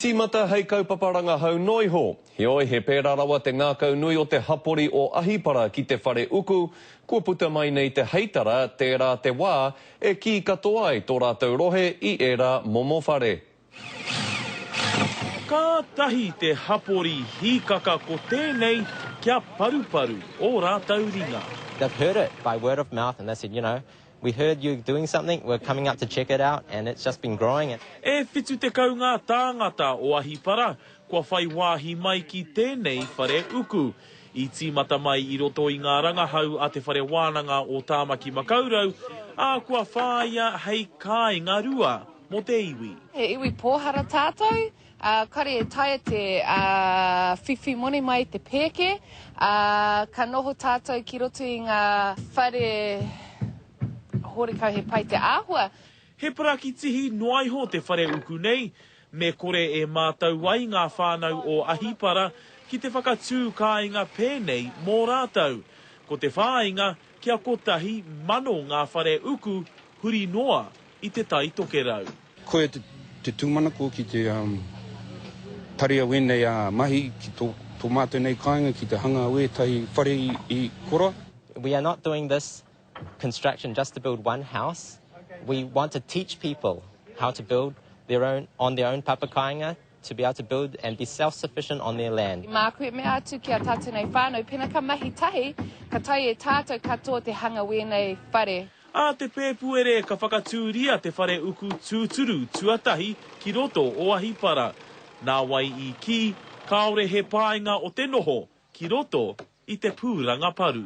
Tīmata hei kaupapa rangahau noa iho. Heoi, he pērā rawa te ngākau nui o te hapori o Ahipara ki te whare uku, kua puta mai nei te heitara, tērā te wā e kī katoa ai tō rātou rohe i ērā momo whare. Kātahi te hapori hīkaka ko tēnei kia paruparu ō rātou ringa. They've heard it by word of mouth and they said, you know, We heard you doing something, we're coming up to check it out and it's just been growing. E whitu tekau ngā tāngata o Ahipara kua whai wāhi mai ki tēnei whare uku. I tīmata mai i roto i ngā rangahau a Te Whare Wānanga o Tāmaki Makaurau, ā, kua whāia hei kāinga rua mō te iwi. He iwi pōhara tātou, Ā, kare e taea te whiwhi moni mai te pēke, ā, ka noho tātou ki roto i ngā whare horekau he pai te āhua. He parakitihi noa iho te whare uku nei, me kore e mātau ai ngā whānau o Ahipara ki te whakatū kāinga pēnei mō rātou. Ko te whāinga, kia kotahi mano ngā whare uku huri noa i Te Tai Tokerau. Koia te tūmanako ki te tarea wēnei a mahi ki tō mātou nei kāinga ki te hanga o ētahi whare i kora. We are not doing this construction just to build one house, we want to teach people how to build on their own papa kāinga, to be able to build and be self-sufficient on their land. I māku e mea atu ki a tātou nei whānau, pēnā ka mahi tahi, ka taea e tātou katoa te hanga wēnei whare. Ā te Pēpuere ka whakatūria te whare uku tūturu tuatahi ki roto o Ahipara. Nā wai i kī, kāore he pāinga o te noho ki roto i te pūranga paru.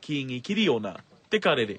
Kīngi Kiriona, Te Karere.